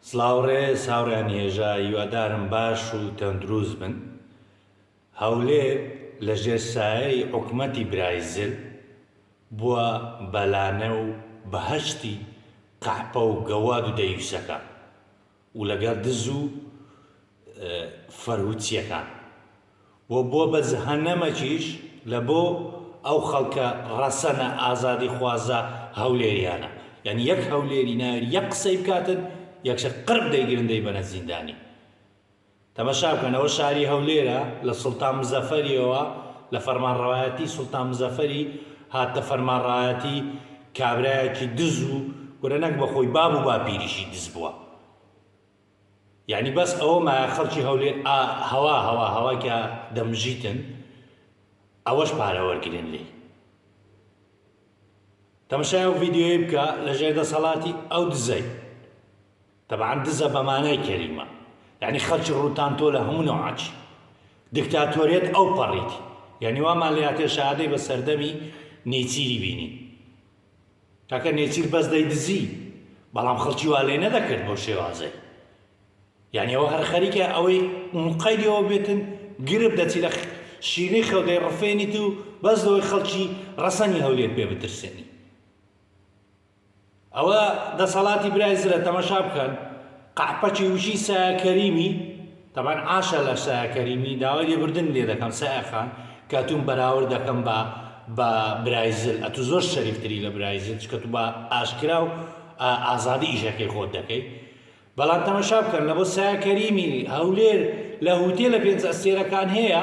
سڵاو ڕێز هاوڕێیان هێژا هیوادارم باش و تەندروست بن هەولێر لە ژێر سایەی حکومەتی برای زل بووە بەلانە و بەهەشتی قەحپە و گەواد و دەیوسەکان و لەگەر دز و فەرهودسیەکان و بۆ بە جهەنەمەکیش لە بۆ ئەو خەڵکە ڕەسەنە ئازادی خوازە هەولێریانە یانی یەک هەولێری ناوێری یەک قسەی بکاتن یەکسەر قرب دەیگرن دەیبەنە زیندانی. تەمەشا بکەنەوە شاری هەولێرە لە سوڵتان مزەفەریەوە لە فەرمانڕەوایەتی سوڵتان مزەفەری هاتتە فەرمانڕەایەتی کابرایەکی دز و کورە نەک بە خۆی باب و باپیریشی دز بوە یانی بەس ئەوە مایە خەڵکی هەولێر ئا هەوا هەوا هەوا کە دەمژیتن ئەوەش پارە وەرگرن لێی تەمەشای ئەو ڤیدیۆی بکە لە ژێر دەسەڵاتی ئەو دزەی تەبعەن دزە بە مانای کەلیمە. یەعنی خەڵکی ڕووتان تۆ لە هەموو نەوعەکی دکتاتۆریەت ئەوپەڕیت. یەعنی وامان لێ هاتێ شەهادەی بە سەردەمی نێچیری بینین. کاکە نێچیر بەس دەیدزی بەڵام خەڵکی وا لێ نەدەکرد بەو شێوازەی. یەعنی ئەوە هەر خەریکە ئەوەی موقەیدی ئەوە بێتن گرپ دەچی لە شینەی خەو دەیڕفێنیت و بەس لەوەی خەڵکی ڕەسەنی هەولێر پێ بترسێنی. ئەوە دەسەڵاتی برای زرە تەمەشا بکەن قەحپەکی وشی سایە کەریمی تەبان عاشە لە سایە کەریمی داوای لێبردن لێ دەکەم سایە خان کە توم بەراورد دەکەم بە بە برای زل ئەتو زۆر شەریفتری لە برای زل چکە تو بە ئاشکرا و ئازادی ئیشەکەی خۆت دەکەی بەڵام تەمەشا بکەن لە بۆ سایە کەریمی هەولێر لە هوتێ لە پێنج ئەستێرەکان هەیە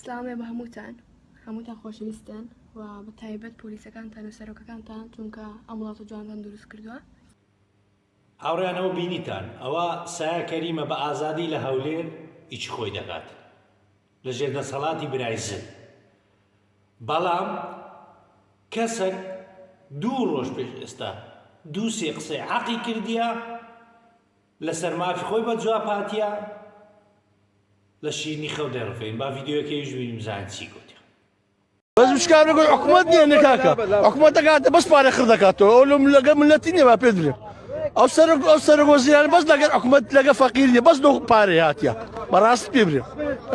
سلاوێ بە هەمووتان هەمووتان خۆشەویستن و بە تایبەت پۆلیسەکانتان و سەرۆکەکانتان چونکە ئەم وڵات و جوانتان دروست کردووە هاوڕیانەوە بینیتان ئەوە سایە کەریمە بە ئازادی لە هەولێر ئیچی خۆی دەکات لە ژێر دەسەڵاتی برای زل بەڵام کەسەک دوو ڕۆژ پێش ئێستا دوو سێ قسەی عقی کردیە لەسەر مافی خۆی بە جوابهاتیە لە شیرنی خەو دەڕفێن با ڤیدیۆکەیش بینیم بزانین چی گوتی بەس مشکار بگوی حکومت نییە نکاکە حکومت دەکاتە بەس پارە خڕ دەکاتەوە ئەو لەم لەگە ملەتی نیە با پێ درێ ئەو سەر ئەو سەرۆک وەزیران بەس لەگەر حکومت لەگە فەقیر نیە بەس لۆ پارە هاتیە بەڕاست پێ برێ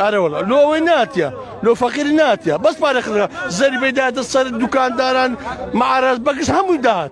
ئارەوەڵە لۆ ئەوەی ناتیە لۆ فەقیر ناتیە بەس پارە خڕ زەری بەداتە سەر دوکانداران معراز بەکش هەمووی داهات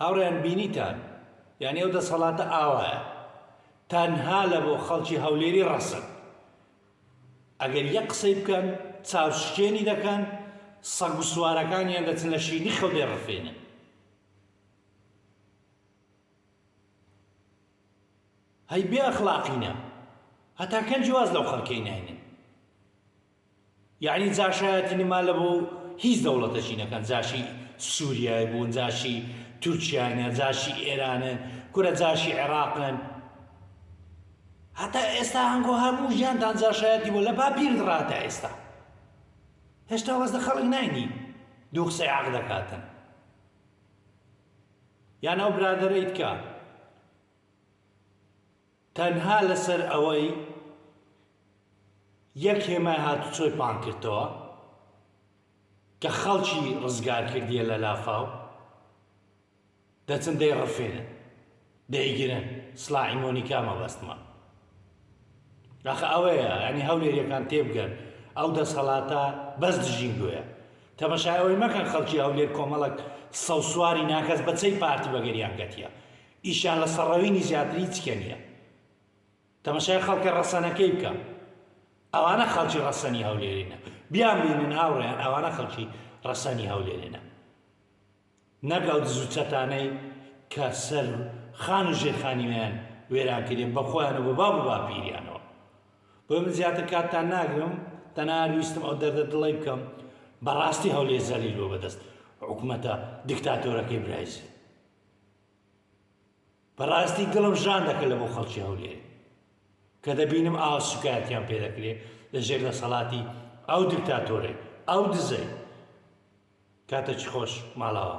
هاوڕێیان بینیتان یانی ئەو دەسەڵاتە ئاوایە تەنها لە بۆ خەڵکی هەولێری ڕەسن ئەگەر یەک قسەی بکەن چاو شکێنی دەکەن سەگ و سوارەکانیان دەچن لە شینی خەو دەڕفێنن هەی بێ ئەخلاقینە هەتا کەنجی واز لەو خەڵکەی ناینن یەعنی جاشایەتی نما لە بۆ هیچ دەوڵەتەکی نەکەن جاشی سوریای بوون جاشی تورکیاینە جاشی ئێرانن کورە جاشی عێراقن هەتا ئێستا هەنگۆ هەموو ژیانتان جاشایەتی بۆ لە باپیرت ڕاتە ئێستا هێشتا وەز لە خەڵک ناینی دوو قسەی عەق دەکاتن یان ئەو برادەرەیت کە تەنها لەسەر ئەوەی یەک هێمای هاتوچۆی پانکردتەوە کە خەڵکی ڕزگار کردیە لە لافاو دەچن دەی ڕفێنن دەیگرن سلاحی مۆنیکا مەبەستمە داخە ئەوەیە ئەنی هەولێریەکان تێبگەن ئەو دەسەڵاتە بەس دژین گوۆە تەمەشایەوەی مەکەن خەڵکی هەولێر کۆمەڵک سەوسواری ناکەس بەچەی پارتی بەگەریان گەتیە ئیشیان لە سەڕەوینی زیاتر هیچ کێ نیە تەمەشای خەڵکە ڕەسەنەکەی بکە ئەوانە خەڵکی ڕەسەنی هەولێرینە بیان بینن هاوڕێیان ئەوانە خەڵکی ڕەسەنی هەولێرێنە نەک ئەو دزو چەتانەی کە سەر خان و ژێرخانیویان وێران کرێ بە خۆیان و بە باب و باپیریانەوە بۆ من زیاتر کاتتان ناگرم تەنها ویستم ئەو دەردە دڵی بکەم بەڕاستی هەولێ زەلیل بۆ بەدەست حکوومەتە دیکتاتۆرەکەی برایزی بەڕاستی دڵم ژان دەکە لە بۆ خەڵکی هەولێر کە دەبینم ئاوا سوکایەتیان پێ دەکرێ لە ژێر دەسەڵاتی ئەو دکتاتۆرەی ئەو دزەی کاتەکی خۆش ماڵاوە.